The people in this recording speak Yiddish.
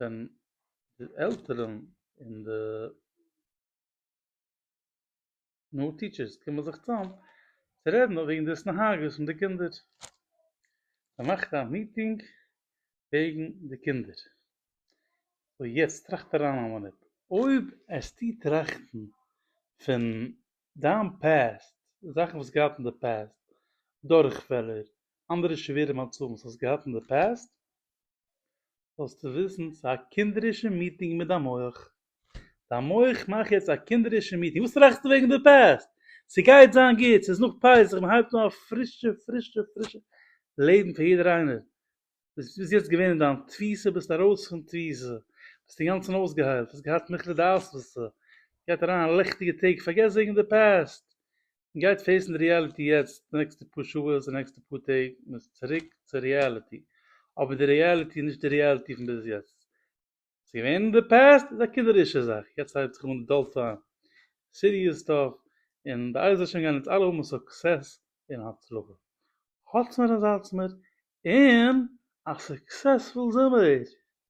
ווען די עלטערן און די נאר טיטשערס קומען זיך צאם צו רעדן וועגן די התנהגות פון די קינדער, מען מאכט א מיטינג וועגן די קינדער, סאו יעצט טראכט אריין א מינוט, אויב העסטו טראכטן פון דיין פּעסט, זאכן וואס געהאט אין די פּעסט, דורכפעלער, אנדערע שווערע מצבים וואס האסט געהאט אין די פּעסט, זאלסטו וויסן ס'איז א קינדערישע מיטינג מיט דיין מוח. דיין מוח מאכט יעצט א קינדערישע מיטינג, וואס טראכסטו וועגן די פּעסט? ס'גייט זיין גוט, ס'איז נאך פסח, מ'הייבט אן א פרישע פרישע פרישע לעבן פאר יעדער איינער, ביסט ביז יעצט געווען אין דיין תפיסה ביסט ארויס פון תפיסה, ביסט אינגאנצן אויסגעהיילט, האסט געהאט מוחלט די אספסה, גייט אריין לעכטיגע טעג, פארגעס וועגן די פעסט, און גייט פעיסן די ריעליטי יעצט, די נעקסטע פאר שעות און די נעקסטע פאר טעג, מ'איז צוריק צו ריעליטי, אבער די ריעליטי איז נישט די ריעליטי פון ביז יעצט, ס'איז געווען אין די פּעסט איז א קינדערישע זאך, יעצט הייבט זיך אן די דעלטא סיריעס סטאף, און בעזרת השם גייען אונז אלע האבן סוקסעס און הצלחה. האלטס מיר און זייטס מיר, און א סוקסעספול זומער!